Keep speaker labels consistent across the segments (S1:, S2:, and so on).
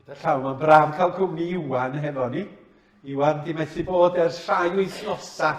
S1: Gyda llaw, mae'n braf cael cwmni Iwan hefo ni. Iwan di methu bod ers rhai wythnosa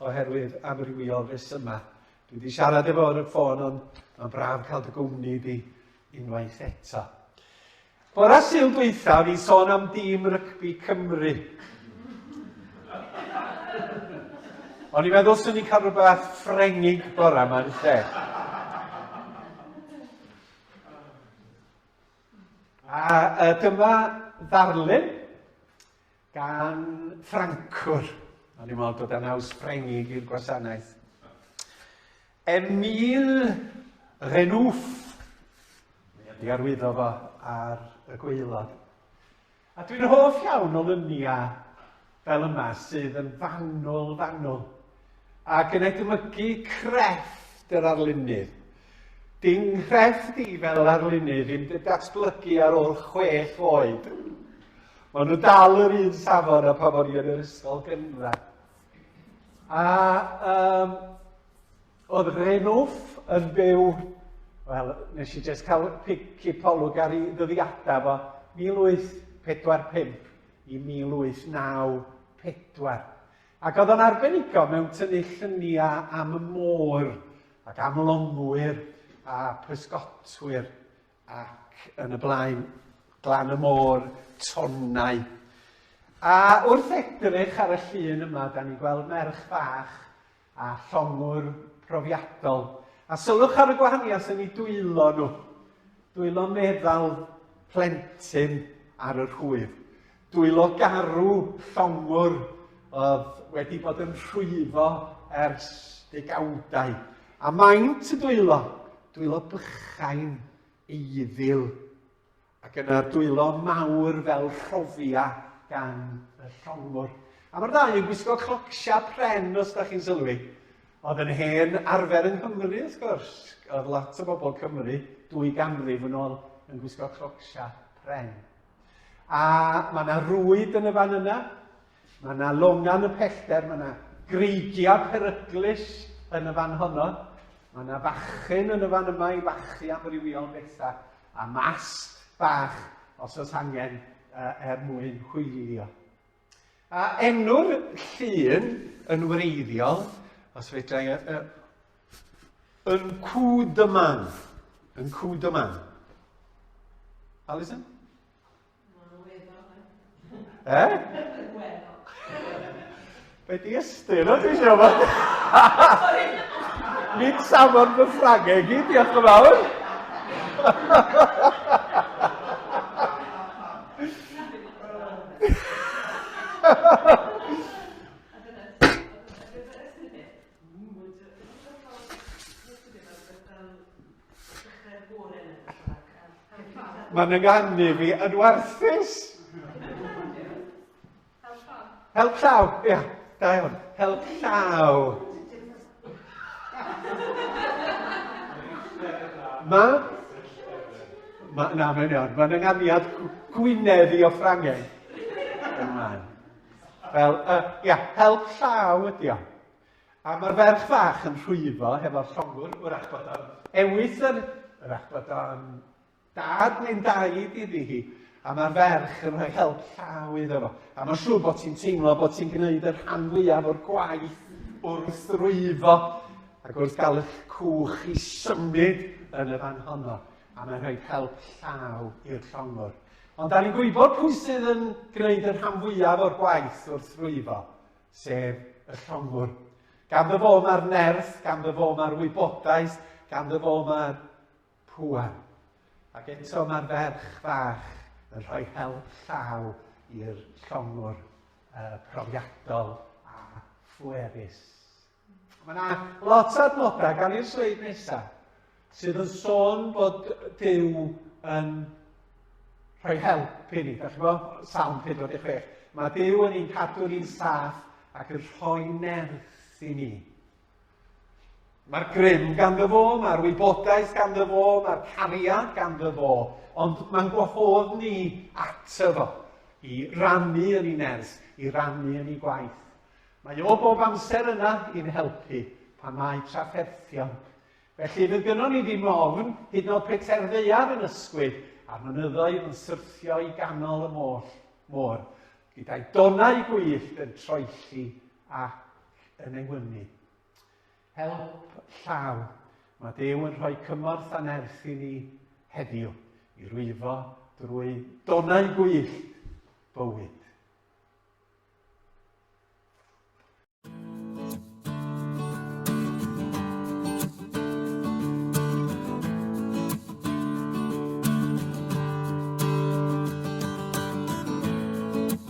S1: oherwydd amrywiol yma. Dwi wedi siarad efo ar y ffôn ond mae'n braf cael dy gwmni di unwaith eto. Bore Sul dwytha fi'n sôn am dîm rygbi Cymru. O'n i'n meddwl swn i'n cael rhywbeth ffrengig bore yma yn lle. A uh, dyma ddarlun gan Ffrancwr. O'n i'n meddwl bod e'n aws Ffrengig i'r gwasanaeth. Emile Renouf. I arwyddo fo ar y gweilod. A dwi'n hoff iawn o lyniau fel yma sydd yn fanwl, fanwl. ac yn edmygu crefft yr arlunydd. Dy nghrefft di fel yr arlunydd yn dy datblygu ar ôl chwech oed. Mae nhw dal yr un safon a pa bod i yn yr ysgol gynradd. A um, oedd Renwff yn byw, wel, nes i jyst cael cipolwg ar ei ddyddiadau fo, 1845 i 1894. Ac oedd o'n arbenigo mewn tynnu lluniau am y môr, ac am longwyr, a pysgotwyr, ac yn y blaen, glan y môr, tonnau. A wrth edrych ar y llun yma, da ni'n gweld merch fach a llongwr profiadol. A sylwch ar y gwahaniaeth yn ei dwylo nhw. Dwylo meddal plentyn ar yr hwyr. Dwylo garw llongwr oedd wedi bod yn rhwyfo ers degawdau, a maint y dwylo, dwylo bychain, eiddil, ac yna dwylo mawr fel rhofia gan y llongwr. A mae'r ddau yn gwisgo clocsia pren, os da chi'n sylwi. Oedd yn hen arfer yng Nghymru, wrth gwrs. Oedd lot o bobl Cymru, dwy ganrif yn ôl, yn gwisgo clocsia pren. A mae yna rwyd yn y fan yna, mae yna longan y pellter, mae yna greigiau peryglus yn y fan honno, mae yna fachyn yn y fan yma i fachu amrywiol bethau, a masg bach os oes angen uh, er mwyn hwylio. A enw'r llun yn wreiddiol, os fedrai, y, y, yn cw dyman. Yn cw dyman. Alison? E? Be di ystyr o ti siarad fod? Nid samon fy ffragau i gyd, diolch yn fawr. Mae'n ynganu fi yn warthus. Help llaw. Help llaw, ia, da iawn. Help llaw. Mae... Ma, na, mae'n iawn. Mae'n ynganiad Gwynedd i o Ffrangeg. Ymlaen. Fel, uh, ia, help llaw ydi o. A mae'r ferch fach yn rhwyfo hefo'r llongwr, wrach bod o'n ewis yr... wrach bod o'n Dad neu'n daid iddi hi, a mae'r ferch yn rhoi help llaw iddo fo, a mae'n siŵr bod ti'n teimlo bod ti'n gwneud y rhan fwyaf o'r gwaith wrth rwyfo ac wrth gael eich cwch i symud yn y fan honno, a mae'n rhoi help llaw i'r llongwr. Ond da ni'n gwybod pwy sydd yn gwneud y rhan fwyaf o'r gwaith wrth rwyfo, sef y llongwr. Ganddo fo mae'r nerth, ganddo fo mae'r wybodaeth, ganddo fo mae'r Pŵan. Ac eto mae'r ferch fach yn rhoi help llaw i'r llongwr uh, profiadol a phwerus. Mae yna lot o adnodau gan i'r sleid nesaf sydd yn sôn bod Dyw yn rhoi help i ni. Da chi'n gwybod, Salm 46. Mae Dyw yn ein cadw ni'n saff ac yn rhoi nerth i ni. Mae'r grym ganddo fo, mae'r wybodaeth ganddo fo, mae'r cariad ganddo fo, ond mae'n gwahodd ni ato fo i rannu yn ei nerth, i rannu yn ei gwaith. Mae o bob amser yna i'n helpu pan mae trafferthion. Felly fydd gynnon ni ddim ofn, hyd nod peter ddeiar yn ysgwyd a'r mynyddoedd yn syrthio i ganol y môr, môr gyda'i donau gwyllt yn troelli a yn ei wynu. Help llaw. Mae Dew yn rhoi cymorth a nerth i ni heddiw i rwyfo drwy donau gwyllt bywyd.